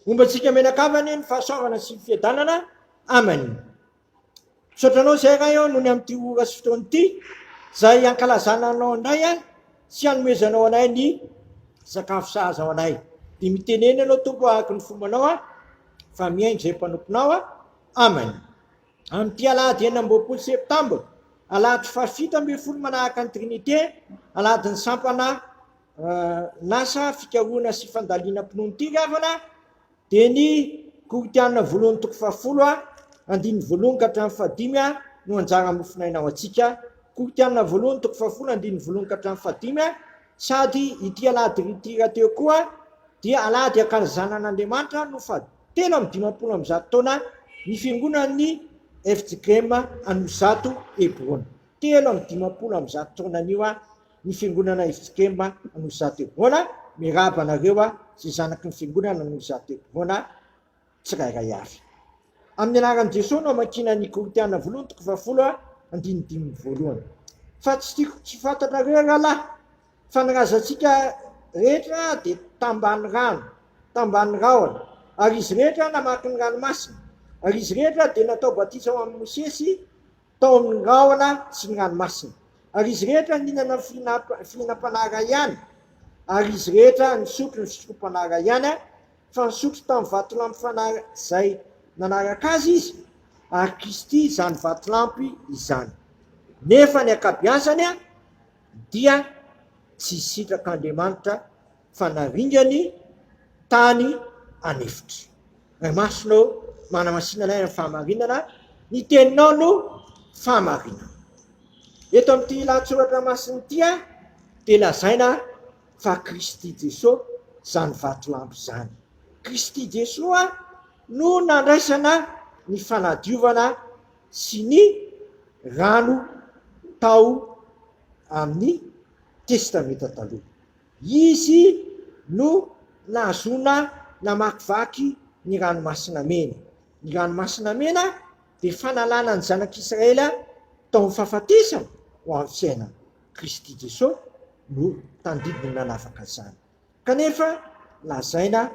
Homba antsika menaka amany ny fahasoavana sy ny fiadanana amany. Misaotra anao izay Ray aho noho ny amin'ity ora sy fotoana ity izay hankalazana anao indray ahy sy hanomezanao anay ny sakafo sahaza ao anay. Dia mitenena ianao tompo ahako ny fombanao aho fa mihaino izay mpanomponao aho. Amen. Amin'ity alahady enina amby roapolo septambra, alahady fahafito ambin'ny folo manahaka ny Trinité, alahady ny sampana Lasa fikarohana sy fandalina mpinono ty ravana dia ny Koritiana voalohany toko fahafolo andininy voalohany ka hatramin'ny fahadimy no anjara mofonaina ho antsika Koritiana voalohany toko fahafolo andininy voalohany ka hatramin'ny fahadimy sady ity alahady rity rahateo koa dia alahady akalazanan'Andriamanitra no fa telo amin'ny dimampolo amin'ny zato taona ny fiangonan'ny FJKM Anosizato Hebron telo amin'ny dimampolo amin'ny zato taona anio Ny fiangonana i Fikemba no za de bona, miraba anareo a zay zanaky ny fiangonana no za de bona tsirairay avy. Amin'ny anaran'i Jesoa no amakiana ny Korintiana voalohany toko fahafolo andininy dimy amby voalohany. Fa tsy tiako tsy fantatrareo rahalahy fa ny razantsika rehetra de tambany rano, tambany rahona, ary izy rehetra namaky ny ranomasina, ary izy rehetra de natao batisa ho amin'i Mosesy, tao amin'ny rahona sy ny ranomasina, ary izy rehetra nihinana ny fihinam-panahy iray ihany, ary izy rehetra nisotro ny sotrompanahy iray ihany, fa nisotro tamin'ny vatolampy fanahy izay nanaraka azy izy, ary Kristy izany vatolampy izany. Nefa ny ankabiazany dia tsy hisitraka Andriamanitra fanaringany tany an'efitra. Ray Masina ô, manamasina anay amin'ny fahamarinana, ny teninao no fahamarinana. Eto amin'ity lahatsoratra masina ity dia lazaina fa Kristy Jesoa izany vatolampy izany. Kristy Jesoa no nandraisana ny fanadiovana sy ny rano tao amin'ny Testamenta Taloha. Izy no nahazoana namakivaky ny Ranomasina Mena. Ny Ranomasina Mena dia fanalana ny zanak'Israely tao amin'ny fahafatesana ho amin'ny fiainana. Kristy Jesosy no tandidin'ny nanafaka izany. Kanefa lazaina.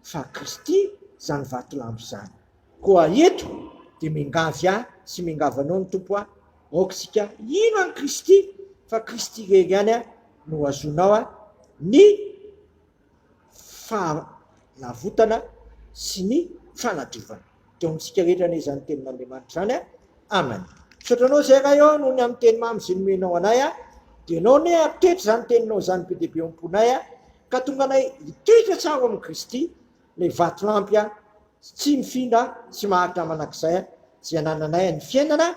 fa Kristy izany vatolampy izany. Koa eto dia miangavy ahy sy miangavy anao ny Tompo hoe, Aoka isika hino an'i Kristy, fa Kristy irery ihany no hahazoanao ny fanavotana sy ny fanadiovana. dia amintsika rehetra anie izany tenin'Andriamanitra izany a. Amen. Misaotra anao izay ray ô noho ny amin'ny teny mamy izay nomenao anay a. Dia ianao anie hampitoetra izany teninao izany be dia be ao am-ponay a. Ka tonga anay hitoetra tsara ao amin'i Kristy ilay vatolampy a tsy mifindra sy maharitra manak'izay a izay anananay a. Ny fiainana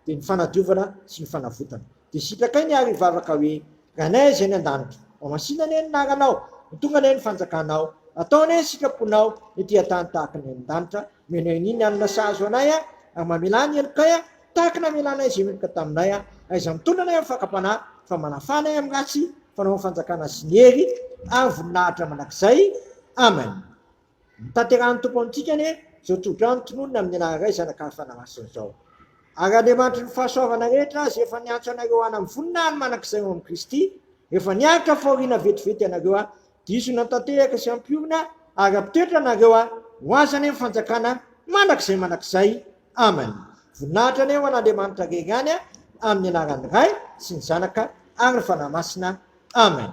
dia ny fanadiovana sy ny fanavotana. Dia sitrakay ny ary vavaka hoe, Ranay izay any an-danitra, mamasina anie ny anaranao, mitonga anie ny fanjakanao, atao anie ny sitraponao ny ety an-tany tahaka ny any an-danitra, omena an'i ny hanina sahazo anay aho, ary mamelà ny helokay aho tahaka ny namelanay izay meloka taminay aho, aiza mitondra anay amin'ny fakam-panahy, fa manafà anay amin'ny ratsy, fanao ny fanjakana sy ny hery ary ny voninahitra mandrakizay. Amen. Notanterahin'ny Tompo amintsika anie izao tsodrano tononina amin'ny anaran'ny Ray, Zanaka ary Fanahy Masina izao. Ary Andriamanitry ny fahasoavana rehetra Azy efa niantso anareo hanam vonina ny manak'izay ao amin'i Kristy, efa niaritra fahoriana vetivety ianareo a, diso nantatehaka sy hampiorina ary hampitoetra anareo a, ho Azy anie ny fanjakana manak'izay manak'izay. Amen. Voninahitra anie ho an'Andriamanitra rery ihany a, amin'ny anaran'ny Ray sy ny Zanaka ary ny Fanahy Masina. Amen.